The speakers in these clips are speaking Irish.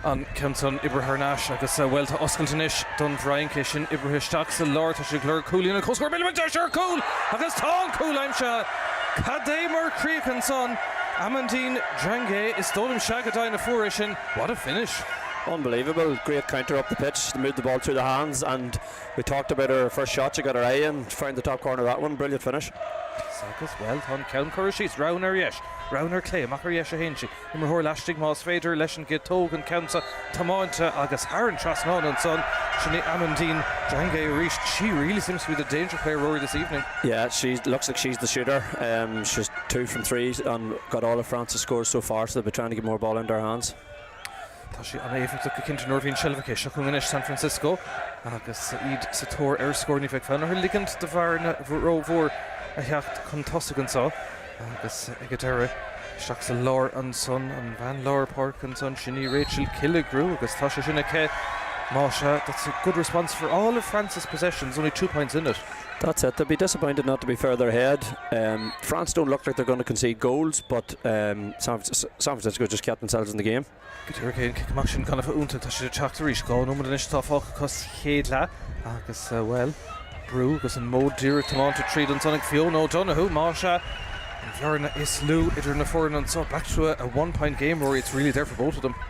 An ceann san oibrithe thar n-ais agus, bhuel, tá oscailt anois don bhFrainc. É sin oibrithe isteach sa lár. Tá siad ag lorg cúilín an chomhscóir. Milleman, deis ar chúl agus tá an cúl aimsithe. Cad é mar chríoch ansan. Amandine Drange is dóigh liom. Sea, go deimhin a fuair é sin. What a finish. Unbelievable. Great counter up the pitch to move the ball through the hands and we talked about her first shot, she got her eye in, found the top corner of that one. Brilliant finish. Agus, bhuel, tá an ceann curtha síos. Ró-ard, ar dheis. Braon ar chlé, amach ar dheis 1 sí. Imreoir laistigh más féidir leis an gcéad Tóg an ceann seo tiomáint agus tharraing trasnán ansan. Sin í Amandine Djongé arís. She really seems to be the danger player Rory this evening. Yeah she looks like she's the shooter. She's two from three and got all of France' scores so far so they'll be trying to get more ball into her hands. Tá sí an-éifeachtach go cinnte nuair a bhíonn seilbh aici. Seo chugainn anois San Francisco agus iad sa tóir ar scór. Ní bheidh fonn orthu ligint do bhearna rómhór a theacht chun tosaigh anseo. Agus ag an deireadh, isteach sa lár ansan, an bhean lár páirce ansan, sin í Rachel Killigrew agus tá sé sin aici. Mhuise, that's a good response for all of France's possessions, only two points in it. That's it, they'll be disappointed not to be further ahead. France don't look like they're going to concede goals but San Francisco just kept themselves in the game. Go háirithe an cic amach sin gan a bheith iontach. Tá sé ag teacht arís. Dhá nóiméad anois atá fágtha acu sa chéad leath agus, bhuel, brú agus an modh díreach tiománta tríd ansan ag Fiona O'Donoghue. Mhuise, an bhearna is lú idir na foirne anso, back to a one-point game, Rory, it's really there for both of them.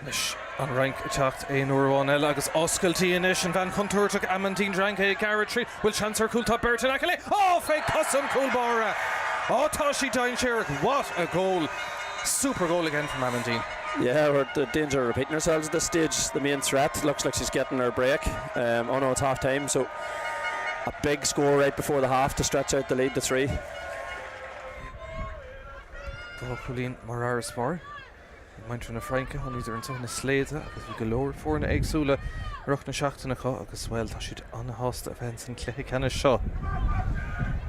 Anois an Fhrainc ag teacht aon uair amháin eile agus oscailt í anois. An bhean chontúirteach Amandine Drange ag gearradh tríd. An bhfuil seans ar chúl? Tá beirt in aice léi. Ó! Fé chosa an chúl báire! Ó tá sí dainséarach! What a goal! Super goal again from Amandine. Yeah we're in danger of repeating ourselves at this stage. The main threat looks like she's getting her break. Oh no it's half time so a big score right before the half to stretch out the lead to three. Dhá chúilín mar fharasbarr. Ag muintir na Fraince, thángadar anseo ina slaoda agus bhí go leor foirne éagsúla i rith na seachtaine acu agus, bhuel, tá siad an-sásta a bheith insan chluiche ceannais seo.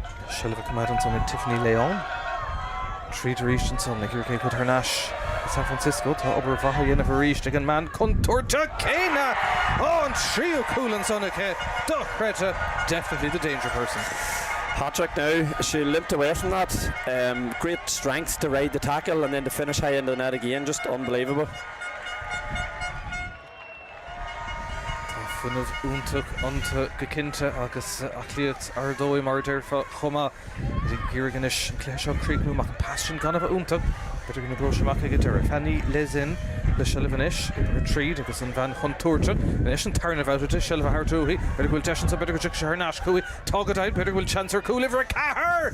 Tá seilbh á coimeád ansan ag Tiffany Leon. Tríd arís ansan ag iarraidh é a chur thar n-ais go San Francisco. Tá obair mhaith á dhéanamh arís ag an mbean chontúirteach céanna! Ó, an tríú cúl ansan aici! Dochreidte! Definitely the danger person. Hat-trick now, she limped away from that. Great strength. to ride the tackle and then to finish high into the net again just unbelievable. Tá fuinneamh iontach iontu go cinnte agus aclaíocht ar dóigh mar a déarfá chomh maith. Iad ag iarraidh anois an cluiche seo a chríochnú amach. Pas sin gan a bheith iontach b'fhéidir go n-oibreoidh sé amach ag an deireadh. Fanny Lezzin le seilbh anois, oibrithe tríd agus an bhean chontúirteach anois, an tarna bhabhta di, seilbh a thabhairt uaithi. B'fhéidir go bhfuil deis ansin, b'fhéidir go dtiocfaidh sé thar n-ais chuici. Tá go deimhin, b'fhéidir go bhfuil seans ar chúl uimhir a ceathair!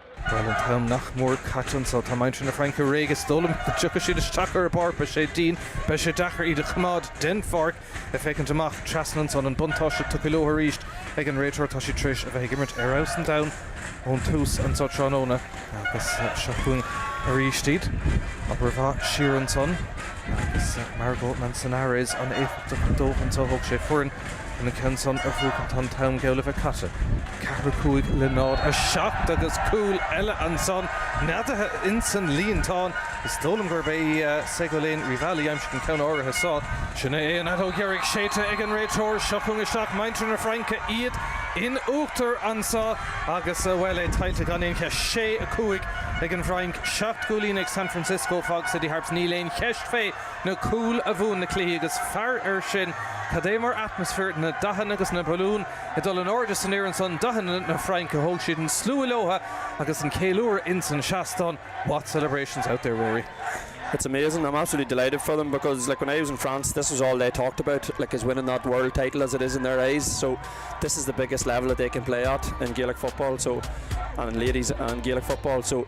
Bhuel, an t-am nach mór caite anso. Tá muintir na Fraince réidh. Is dóigh liom go dtiocfaidh siad isteach ar an bpáirc. Beidh sé dian. Beidh sé deacair iad a choimeád den pháirc. Ag féachaint amach trasna ansan, an buntáiste tugtha leo arís ag an réiteoir. Tá siad tar éis a bheith ag imirt ar fheabhas an domhain ón tús anso tráthnóna agus seo chugainn aríst iad. Obair mhaith siar ansan agus Margot Manzanares an-éifeachtach dóibh anso. Thóg sé foireann. Ina cheann san ar bhuachan tá an t-am geall le bheith caite. Ceathair a cúig le náid a seacht agus cúl eile ansan neadaithe insan líontán. Is dóigh liom gurb é Segolen Rivali aimsigh an ceann áirithe san. Sin é an fheadóg dheiridh séidte ag an réiteoir. Seo chugainn isteach muintir na Fraince, iad in uachtar anso agus, bhuel, é tuillte gan aon cheist. Sé a cúig ag an bhFrainc, seacht gcúilín ag San Francisco. Fog City Harps, níl aon cheist fé. na cúil a bhuann na cluichí agus faraor air sin cad é mar atmaisféar, na dathanna agus na balúin ag dul in airde san aer ansan, dathanna na Fraince, thóg siad an slua leotha agus an céiliúradh ins an seastán, what celebrations out there Ruairí. It's amazing, I'm absolutely delighted for them because like when I was in France this was all they talked about like is winning that world title as it is in their eyes so this is the biggest level that they can play at in Gaelic football so and ladies and Gaelic football so